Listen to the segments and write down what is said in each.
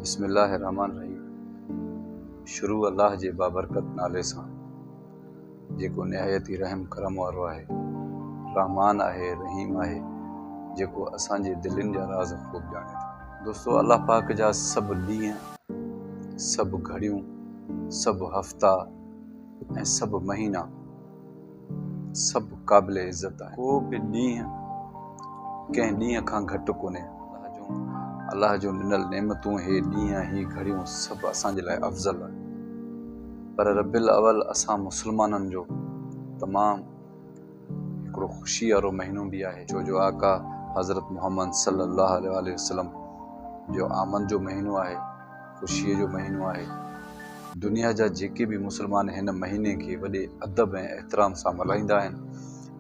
بسم الله الرحمٰن الرحيم شروع الله جي بابرڪت نالي سان جيڪو نهايت ئي رحم ڪرم وارو آهي رحمان آهي رحيم آهي جيڪو اسان جي دلين جا راز خوب ڄاڻي ٿو دوستو الله پاڪ جا سڀ ڏينهن سڀ گهڙيون سڀ هفتا ۽ سڀ مهينا سڀ قابل عزت آهن ڪو به ڏينهن ڪنهن ڏينهن کان گهٽ ڪونهي الله جون ڏنل نعمتون هي ڏينهن هي گهڙيون سڀ اسان جي لاء افضل آهن پر ربيع الاول اسان مسلمانن جو تمام هڪڙو خوشي وارو مهينو به آهي ڇو جو آقا حضرت محمد صلي الله عليه وسلم جو آمد جو مهينو آهي خوشيء جو مهينو آهي. دنيا جا جيڪي به مسلمان هن مهيني کي وڏي ادب ۽ احترام سان ملهائيندا آهن.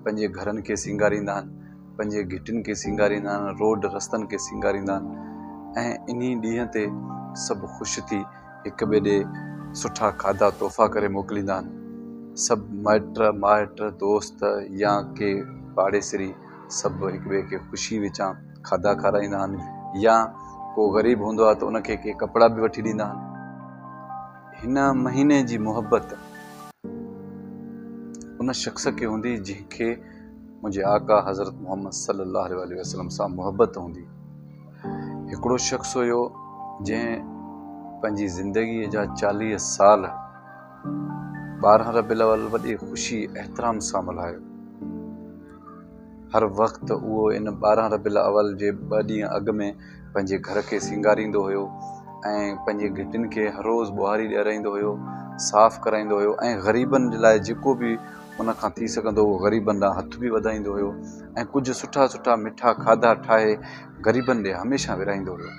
پنهنجي گهرن کي سينگاريندا آهن، پنهنجي گهٽين کي سينگاريندا آهن، روڊ رستن کي سينگاريندا آهن ۽ انهي ڏينهن تي سڀ خوش ٿي هڪ ٻئي ڏي سٺا کاڌا تحفا ڪري موڪليندا آهن. سڀ مائٽ مائٽ، دوست يا ڪي پاڙيسري سڀ هڪ ٻئي کي خوشي وچان. کاڌا کارائيندا آهن يا ڪو غريب هوندو آهي ته ان کي ڪي ڪپڙا به وٺي ڏيندا آهن هن مهيني جي محبت ان شخص کي هوندي جنهن کي منهنجي آقا حضرت محمد صلي الله عليه وسلم سان محبت هوندي هڪڙو شخص هيو جنهن پنهنجي زندگي جا چاليهه سال ٻارهن ربيع الاول وڏي خوشي احترام سان ملهايو هر وقت اهو ان ٻارهن ربيع الاول جي ٻه ڏينهن اڳ ۾ پنهنجي گهر کي سينگاريندو هيو ۽ پنهنجي گهٽين کي هر روز ٻهاري ڏيارائيندو هيو، صاف ڪرائيندو هيو ۽ غريبن جي لاء جيڪو به ان کان ٿي سگهندو هو غريبن ڏانهن هٿ به وڌائيندو هيو ۽ ڪجهه سٺا سٺا مٺا کاڌا ٺاهي غريبن ڏي هميشه ورهائيندو هيو.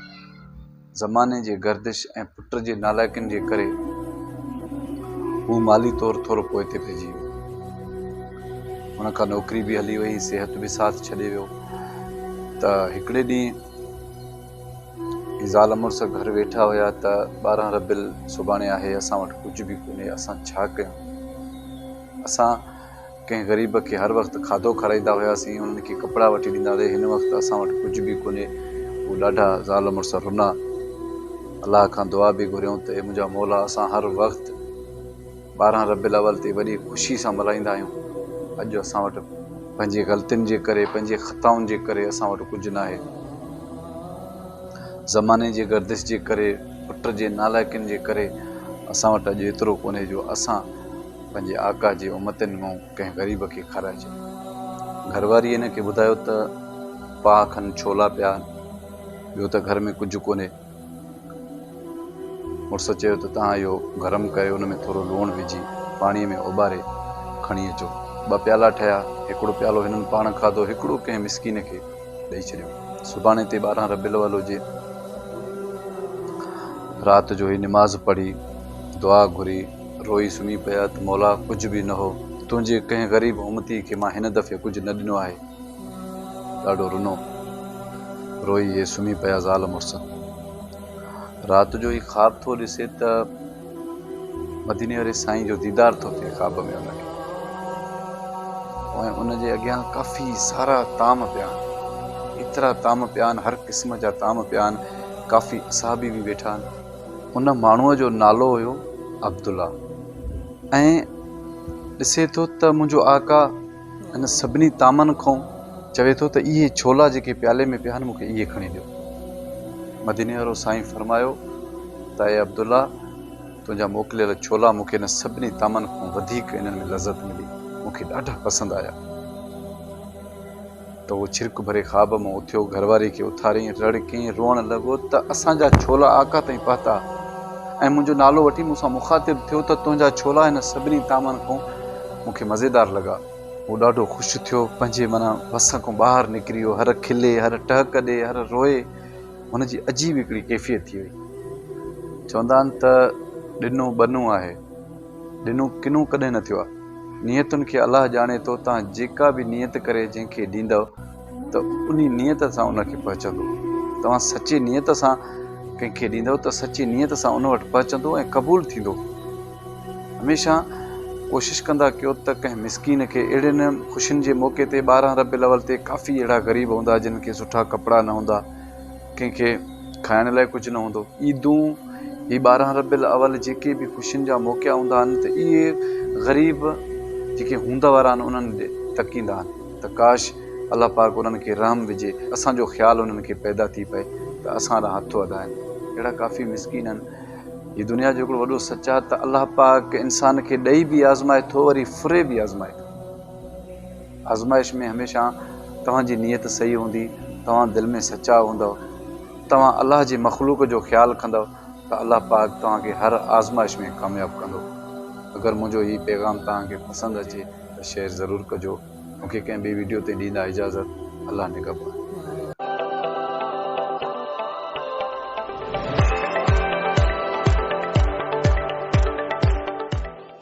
زماني جي گردش ۽ پٽ جي نالائقين جي ڪري هو مالي طور ٿورو پوئتي پئجي ويو. هن کان نوڪري به هلي وئي، صحت به ساٿ ڇڏي ويو ته هڪڙي ڏينهن هي زال مڙس گهر ويٺا هيا ته ٻارهن ربيل سڀاڻي آهي، اسان وٽ ڪجهه به ڪونهي، اسان ڇا ڪيون؟ اسان ڪنهن غريب کي هر وقت کاڌو کارائيندا هياسين، انهن کي ڪپڙا وٺي ڏيندا هياسين، هن وقت اسان وٽ ڪجهه به ڪونهي. هو ڏاڍا زال مڙس رنا. الله کان دعا به گهريائون ته اي منهنجا مولا اسان هر وقت ٻارهن ربيع الاول تي وڏي خوشي سان ملهائيندا آهيون، اڄ اسان وٽ پنهنجي غلطين جي ڪري، پنهنجي خطائن جي ڪري اسان وٽ ڪجهه ناهي. زماني جي گردش جي ڪري، پٽ جي نالائقين جي ڪري اسان وٽ اڄ ايترو ڪونهي جو اسان. پنهنجي آقا جي امتين مون ڪنهن غريب کي کارائجي. گهرواريء هن کي ٻڌايو ته پاهه کن ڇولا پيا آهن، ٻيو ته گهر ۾ ڪجهه ڪونهي. مڙس چيو ته توهان اهو گرم ڪري ان ۾ ٿورو لوڻ وجهي پاڻيء ۾ اوٻاري کڻي اچو. ٻه پيالا ٺهيا. هڪڙو پيالو هنن پاڻ کاڌو، هڪڙو ڪنهن مسڪين کي ڏئي ڇڏيو. سڀاڻي تي ٻارهن ربيع الاول جي رات جو هي نماز پڙهي، دعا گهري، روئي سمهي پيا ته مولا ڪجهه به نه هو، تنهنجي ڪنهن غريب امتي کي مان هن دفعي ڪجهه نه ڏنو آهي. ڏاڍو رنو روئي اهي سمهي پيا زال مڙس. رات جو هي خواب ٿو ڏسي ته مديني واري سائين جو ديدار ٿو ٿئي خواب ۾ ان کي ۽ ان جي اڳيان ڪافي سارا طعام پيا آهن ايترا طعام پيا آهن هر قسم جا طعام پيا آهن ڪافي اصحابي به ويٺا آهن. ان ماڻهوء جو نالو هيو عبدالله ۽ ڏسي ٿو ته منهنجو آقا هن سڀني طعمن کان چوي ٿو ته اهي ڇولا جيڪي پيالي ۾ پيا آهن مون کي اهي کڻي ڏيو. مديني وارو سائين فرمايو ته اي عبدالله تنهنجا موڪليل ڇولا مون کي هن سڀني طعمن کان وڌيڪ انهن ۾ لذت ملي مون کي ڏاڍا پسند آيا. ته هو ڇرڪ ڀري خواب مان اٿيو، گهر واري کي اٿاريائين، رڙ ڪيائين، روئڻ لڳو ته اسان جا ڇولا آقا تائين پهتا ۽ منهنجو نالو وٺي مون سان مخاطب ٿيو ته تنهنجا ڇولا هن سڀني طعمن کان مون کي مزيدار لڳا. هو ڏاڍو خوش ٿيو، پنهنجي معنيٰ وس کان ٻاهر نڪري ويو، هر کلي، هر ٽهڪ ڏي، هر روئي، هن جي عجيب هڪڙي ڪيفيت ٿي وئي. چوندا آهن ته ڏنو ٻنو آهي. ڏنو ڪنو ڪڏهن نه ٿيو آ. نيتن کي الله ڄاڻي ٿو توهان جيڪا به نيت ڪري جنهن کي ڏيندؤ ته انهي نيت سان ان کي پهچندو. توهان سچي نيت سان ڪنهن کي ڏيندؤ ته سچي نيت سان ان وٽ پهچندو ۽ قبول ٿيندو. هميشه ڪوشش ڪندا ڪيو ته ڪنهن مسڪين کي اهڙين خوشين جي موقعي تي ٻارهن ربيع الاول تي ڪافي اهڙا غريب هوندا جن کي سٺا ڪپڙا نه هوندا. ڪنهن کي کائڻ لاء ڪجهه نه هوندو. عيدون، هي ٻارهن ربيع الاول جيڪي به خوشين جا موقعا هوندا آهن ته اهي غريب جيڪي هوند وارا آهن انهن ڏي تڪيندا آهن ته ڪاش الله پاڪ انهن کي رحم وجهي اسان جو خيال انهن کي پيدا ٿي پئي ته اسان ڏانهن هٿ وڌائن. اهڙا ڪافي مسڪين آهن. هي دنيا جو هڪڙو وڏو سچ آهي ته الله پاڪ انسان کي ڏئي به آزمائي ٿو وري ڦري به آزمائي ٿو. آزمائش ۾ هميشه توهان جي نيت صحيح هوندي، توهان دل ۾ سچا هوندؤ، توهان الله جي مخلوق جو خيال ڪندؤ ته الله پاڪ توهان کي هر آزمائش ۾ ڪامياب ڪندو. اگر منهنجو هي پيغام توهان کي پسند اچي ته شيئر ضرور ڪجو. مون کي ڪنهن ٻي ويڊيو تي ڏيندا اجازت. الله نگهبان.